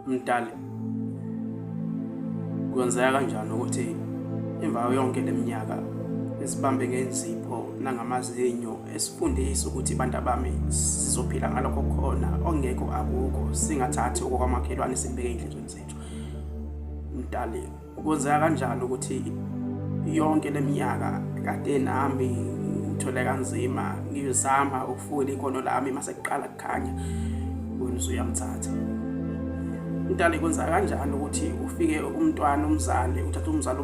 Mdali, kwenzeka kanjani ukuthi emva yonke leminyaka esibambe ngenzipho nangamazinyo esifundisa ukuthi abantu bami sizophila ngalokho khona ongekho akukho singathathi okwamakhelwane sibeke endleleni zethu. Mdali. Ukwenzeka kanjani ukuthi yonke leminyaka kade nami ngithole kanzima ngizama ukufuna ikhono lami mase kuqala kukhanya wena usuyamthatha umntana ikwenza kanjani ukuthi ufike umntwana umzali uthatha umzali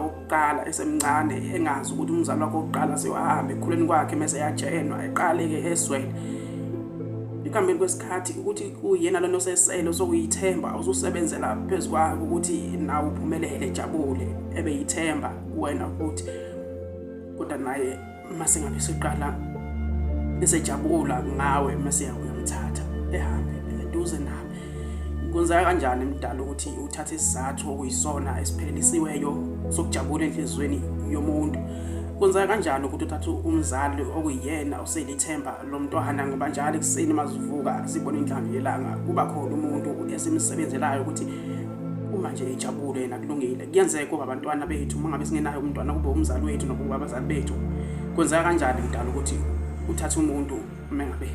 wokuqala esemncane engazi ukuthi umzali wakhe wokuqala sewahambe ekhuleni kwakhe mese yajenwa eqale-ke eswele ekuhambeni kwesikhathi ukuthi uyena lona osesele sokuyithemba ususebenzela phezu kwako ukuthi nawe uphumelele ejabule ebe yithemba kuwena ukuthi kodwa naye masingabe siqala esejabula ngawe masiya uyomthatha ehambe eduze nami kunzeka kanjani emdala ukuthi uthathe isizathu okuyisona esiphelelisiweyo sokujabula enhliziyweni yomuntu kunzeka kanjani ukuthi uthathe umzali okuyena seli ithemba lomntwana ngoba njalo ekuseni mazivuka sibona inhlamvu yelanga kuba khona umuntu esimsebenzelayo ukuthi uma nje ejabule yena kulungile kuyenzeka uba abantwana bethu uma ngabe singenayo umntwana kube umzali wethu nokuba abazali bethu kwenzeka kanjani mdala ukuthi uthathe umuntu uma ngabe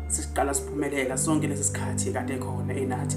siqala siphumelela sonke lesi sikhathi kade khona enathi